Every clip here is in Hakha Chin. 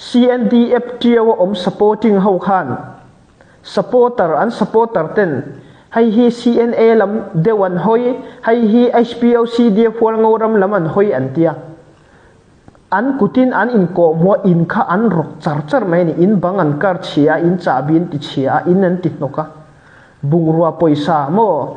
CNDF ṭio a um supporting hokhan supporter an supporter ten hei hi CNA lam deu an hoi hei hi HPOCDF Hualngo ram lam an hoi an tia an kutin an in kawh mua in kha an rok char char mai ni in bang an kar chia in chahbin ti chia in an ti hnoka bungrua poisa mo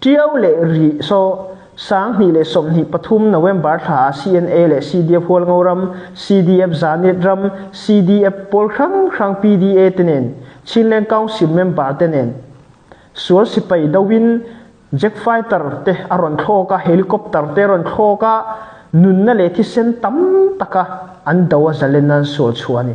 Ṭio le rih sawh, sanghnih le sawmhnih pathum November thla ah CNA le CDF Hualngo ram, CDF Zanit ram, CDF pawl hranghrang PDA te nen, Chinland Council member te nen, sual sipai do in jet fighter te a rawn thlawk a, helicopter te rawn thlawk a, nunna le thisen tam taka an do a zalen an sual chu a ni.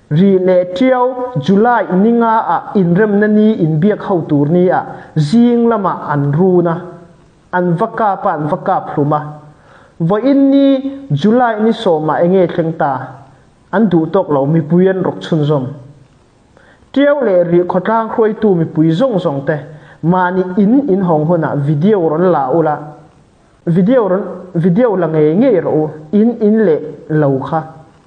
Ri le ṭio July ni nga ah innremna ni in biak hotu ni ah zing lamah an run a, an va kap a an va kap hlum a. Voin ni July ni sawmah enge thleng ta an duh tawk lo mipui an ruk chunzom. Ṭio le ri khawtlang hruaitu mipui zong zong te mani in in hong hunah video ron la ula video ron video la ngei ngei ro in in le lo kha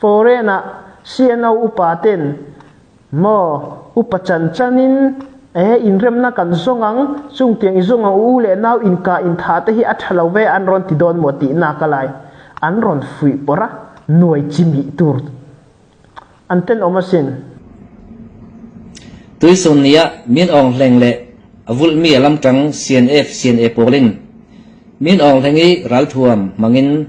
Foreign ah siano upa ten maw upa cancan in ee in remnak kan zong ang cung tiang i zung ang u le nau innka inntha te hi a tha lo ve an ron ti dawn maw ti nak a lai an ron fuih por a nuai cimi tur an ten om asin tuisun ni ah min ong hleng le avulh mi alam tang CNF CNA pawl in min ong hleng i ralthuam mangin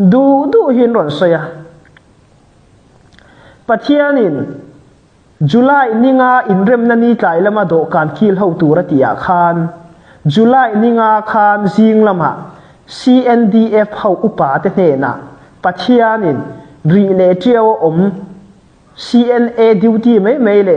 Duhduh hin rawn soi a Pathian in July ninga in remna ni tlai lama dawhkan kil ho tur a ti ah khan July ninga khan zing lama CNDF ho upa te hnenah Pathian in ri le ṭio om CNA duty mai mai le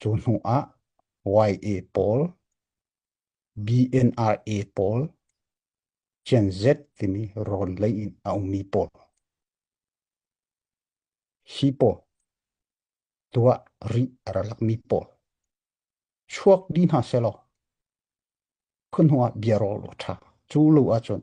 Cu hnuah YA pawl, BNRA pawl, Gen Z timi rawn lei in a ummi pawl. Hi pawl tuah rih a ra lakmi pawl. Chuak di hna selaw, khun hnuah bia rawl ṭha. Cu lo ahcun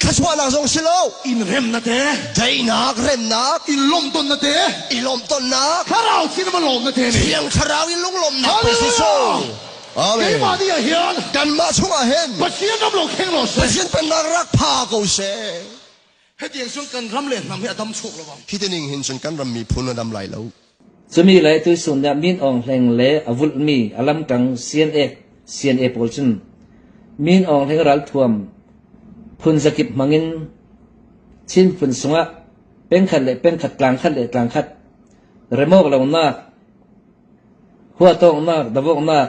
Thluachuahnak zong si lo. In rem na te. Daihnak, remnak. In lawmh ton na te. I lawmh tonnak. Thlarau sin ma lawm na te ni. Thiang thlarau in lunglawmnak pe Jesuh. Amen. Keimah nih hin kanmah chungah hin Pathian ram lo kheng lo se Pathian pennak rak pha ko seh hetiang cun kan ram le hnam hi a dam chuk lo bang hi ti ning hin cun kan ram miphun a dam lai lo Cumi le tuisun nih min awng hleng le a vulhmi a lamkang CNA CNA pawl cun min awng hleng ralthuam phun zakip hmangin Chin phun sungah pengkhat le pengkhat tlangkhat le tlangkhat remawk lonak huatawknak davoknak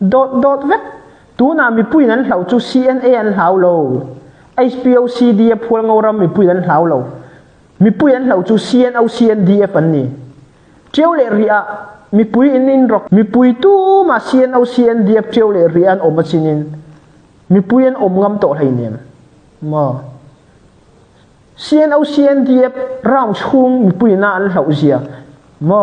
dotdot vek tuna mipui nan hlau chu CNA an hlau lo HPOCD a phual ngo ram mipui nan hlau lo mipui an hlau chu CNO CNDF an ni ṭiau le ri ah mipui in in rok mipui tu ma CNO CNDF ṭiau le ri an om a sinin mipui an om ngam to hlei nem mo CNO CNDF round chung mipui na an hlau zia mo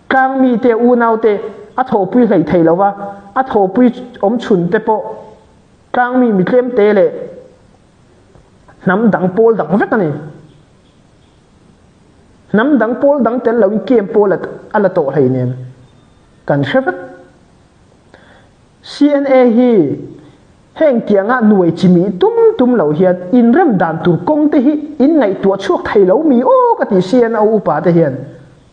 Tlangmi te unaute a thawpui hlei thei lo va a thawpui awmchun te pawh tlangmi mi tlem te le hnam dang pawl dang vek ani hnam dang pawl dang tel lo in kem pawl a la to hlei nen kan hre vat CNA hi heng tianga nuai chimi tum tum lo hian in rem dan tur kong te hi in ngaihtuah chuak thei lo mi o ka ti CNO upa te hian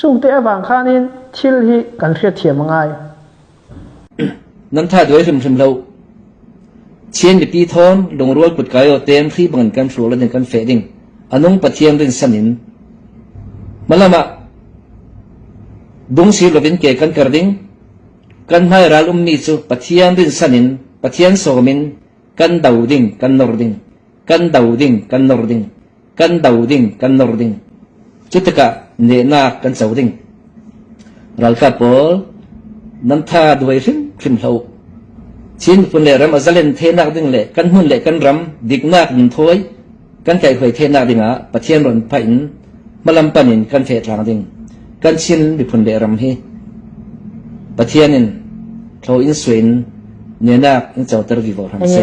Cung te a vang khan in thil hi kan hriatthiam a ngai. Nan that ve hrimhrim lo. Chin biapi thawng lungrual kut kai o tem thli bangin kan hrul in kan fe ding. Anung pathian rin san in. Malama bung sir lovin ke kan kar ding. Kan hmai ral ummi cu pathian rin san in pathian sawm in kan do ding, kan nor ding, kan do ding, kan nor ding. kan do ding kan nor ding cu tikah nehnak kan co ding ralkap pawl nan tha duai hrim hrim hlo chin pun le ram azalen thenak ding le kan hun le kan ram diknak in thoi kan kai hoi thenak dingah pathian ron pa in malam pan in kan the tlang ding kan chin miphun le ram hi pathian in tho in suin nenak in choter vi bo ham se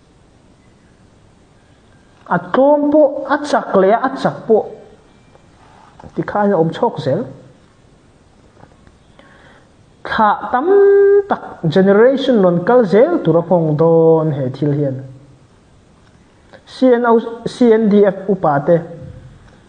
A tlawm poh, a cak le a cak poh tikhan a um chawk zel. Thlah tam tak generation non kal zel tur a hmong dawn he thil hian. CNO, CNDF upa te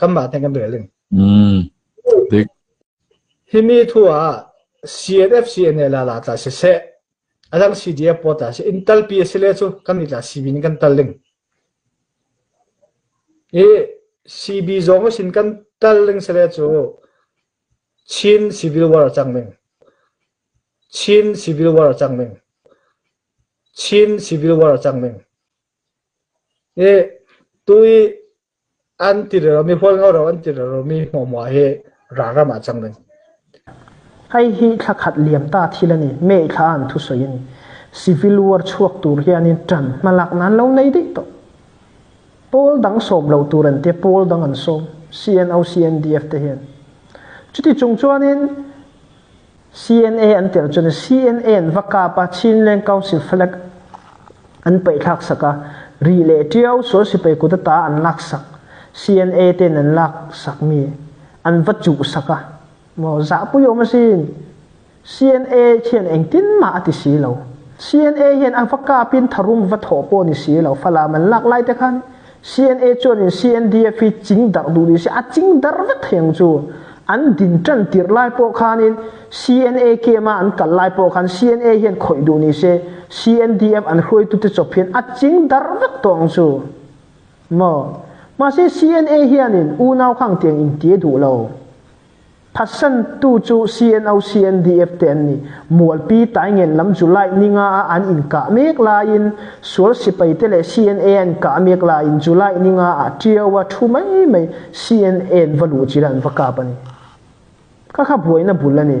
kanmah theng kan rel in. Dik. Hi ni thu ah CNF CNL ah la tla siseh, adang CDF pawl tla siseh, in talpi a si le cu kan i tla CB nih kan tal ding. I CB zong a sin kan tal ding si le cu Chin Civil War a cang ding. Chin Civil War a cang ding. Chin Civil War a cang ding. Hi tui an ti le lomi, hual ngau lo an ti le lomi hmuahhmuah hi ralram ah a cang ding. Hei hi thla khat liam ta thil a ni. Me thla an thu soi ani. Civil war chuak tur hian in tan hmalak nan lo nei dei to. Pawl dang som lo tur an te pawl dang an som. CNO CNDF te hian. Cuti chung chuan in CNA an tir cun CNA in va kapa Chinland Council falek an paih thlak sak a ri le ṭio sual sipai kut ta an lak sak CNA ten an lak sak mi an va cuh sak a mo za pu yom asin CNA thian engtin ma ati si lo CNA hian an fa kapin tharum va tho po ni si lo fala man lak lai te khan CNA chuan in CNDF hi cingdarh duh ni si a cingdarh vek theng chu an din tan tir lai po khan in CNA kema an kal lai po khan CNA hian khoi duh ni se CNDF an hruaitu te chop hian a cingdarh vek tong chu mo ma se CNA hian in unau khang tiang in tie duh lo Thatsantu cu CNO CNDF te an nih mualpi taingen lam cu Lightning ah an in kah mek lai in sual sipai te le CNA an kah mek lai in cu Lightning ah a ṭio a ṭhu mai mai CNA va luh ci an va kap ani. Khakha buai na bul ani.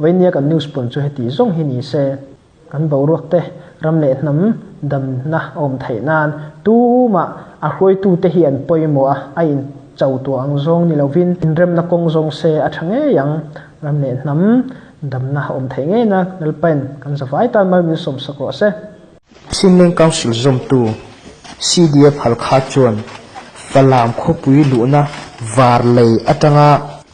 Veiniakan news pawl cu hiti zong hi ni seh, kan boruak te ram le hnam damnak a um theih nain tumah a hruaitu te hi an poi maw a in co tuang zong ni loin in remnak kong zong seh a ṭha ngei ang. Ram le hnam damnak a um theih ngei nak nelpen kan zavai tan mal min som sak rawh seh. Chinland Council zumtu CDF Halkha chuan Falam khawpui luhna var lei aṭanga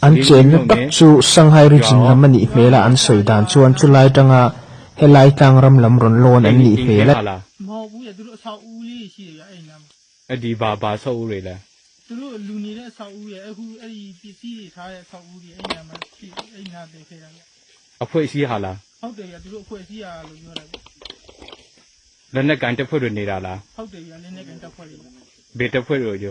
An cem biatak cu Shanghai region lam a nih hmel ah an sawi dan cun cu lai ṭang ah he Laitlang ram lam rawn lawn an nih hmel a ti.